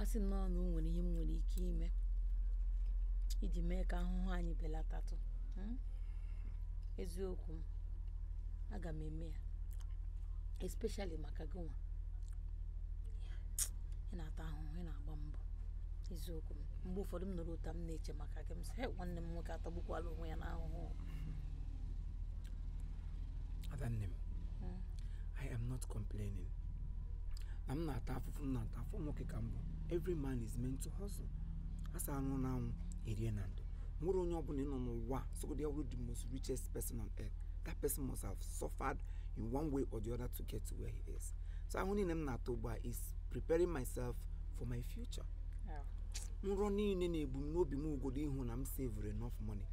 a sị nnọọ na o nwere ihe m nwere ike ime iji mee ka ahụhụ anyị belatatụ hmm? eziokwu m aga m eme ya especially maka gị nwa ị na-ata ahụhụ ị na-agba mbọ eziokwu m mgbe ụfọdụ m nọrọ otu a m na-eche maka gị m sị "Hey, nwanne m nwoke atagbukwala onwe ya n'ahụhụ adanne m i am not complaining na m na-ata afụfụ m na-ata after all nwoke ka m bụ every man is meant to hustle a sị arụọ n'anwụ erie na ndo were onye ọbụla nọ n'ụwa sọgodi ya wụrụ the most richest person on earth that person must have suffered in one way or the other to get to where he is so ahụhụ niile m na-ata ugbu a is preparing myself for my future nrọ niile na-ebu m n'obi bụgodu ịhụ na m savere enough money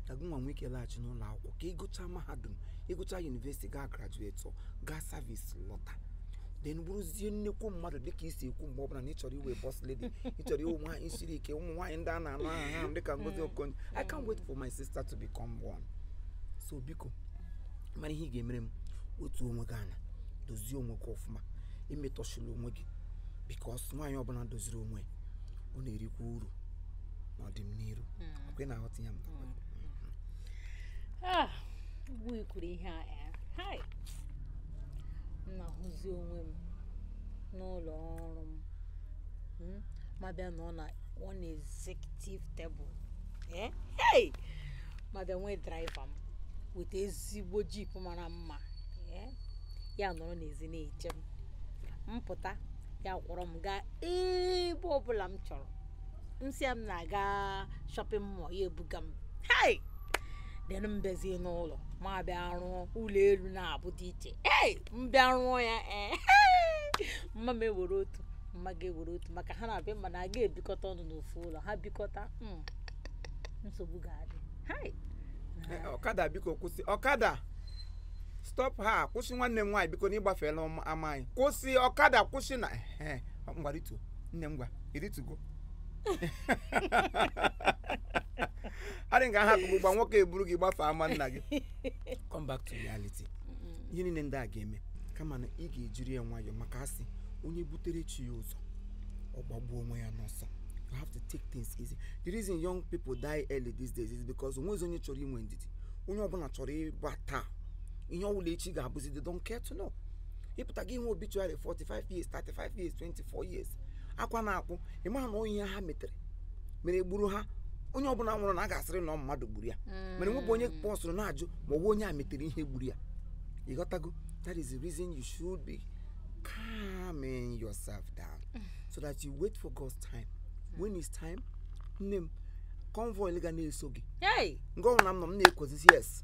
ka gị nwa nwee ike laghachi n'ụlọ akwụkwọ ka ị gụchaa mahadum ị gụchaa university gaa graduate gaa service lọta then bụrụzie nnekwu mmadụ dịka i si ekwu mgbe ọbụla na ị chọrọ ịwụ boss lady ị chọrọ ịwụ nwaanyị siri ike ụmụ nwaanyị ndị a na-anụ aha ha dịka Ngozi hmm. Okonjo I can't wait for my sister to become one so biko mara ihe ị ga-emere m otu onwe gị anya dozie onwe gị ọfụma emetọsịla onwe gị because nwaanyị ọbụla doziri onwe ọ na-erikwa uru n'ọdịnihu hmm. ọ kwa ị na-aghọta ihe m na-agwa gị. Ah, ugbu i kwuru ihe a eh, hai m na-ahụzi onwe m n'ụlọ ọrụ m Hmm? m abịa nọọ na one executive table Eh, hey! m abịa nwee driver m weta ezigbo jeep mara mma Eh, ya anọrọ n'ezi na-eche m m pụta ya akwọrọ m gaa ebe ọbụla m chọrọ m sị ya m na-aga shopping mall ya ebuga m hei then m bịazie n'ụlọ m abịa rụọ ụlọ elu naabọ dị iche ei m bịa rụọ ya ee mma m ewere otu mma gị ewere otu maka ha naabọ m ma na aga ebikọta ọnụ n'ofu ụlọ ha bikọta mm, nsogbu ga-adị hei Eh, ọkada biko kwụsị ọkada stop ha kwụsị nwanne m nwaanyị biko na ị gbafeela ama anyị kwụsị ọkada kwụsị na ehe, ngwa rịtu nne m ngwa ị rịtugo I think a hapụ gị ugbu a nwoke a eburu gị gbafee ama nna gị come back to reality ihe niile ndị a ga-eme kama na ị ga-ejiri ya nwayọọ maka a sị onye butere chi ya ụzọ ọ gbagbuo onwe ya n'ọsọ you have to take things easy the reason young people die early these days is because o nwezi onye chọrọ inwe ndidi onye ọbụla chọrọ ịba taa ihe ọbụla echi ga-abụzi they don't care to know ịpụta gị ihe obituary 45 years 35 years 24 years akwa na-akwụ ịmaha na ọ ihe ha metere mere gburu ha onye ọbụla nwụrụ na a ga-asịrị na ọ mmadụ gburu ya mere nwebụ onye pause-ụrụ na-ajụ ma ọwụ onye a metere ihe gburu ya ịghọtago that is the reason you should be calming yourself down so that you wait for God's time when it's time nne m convoy ga na-eso gị Hey! nke ọbụla m nọ m na-ekwezi yes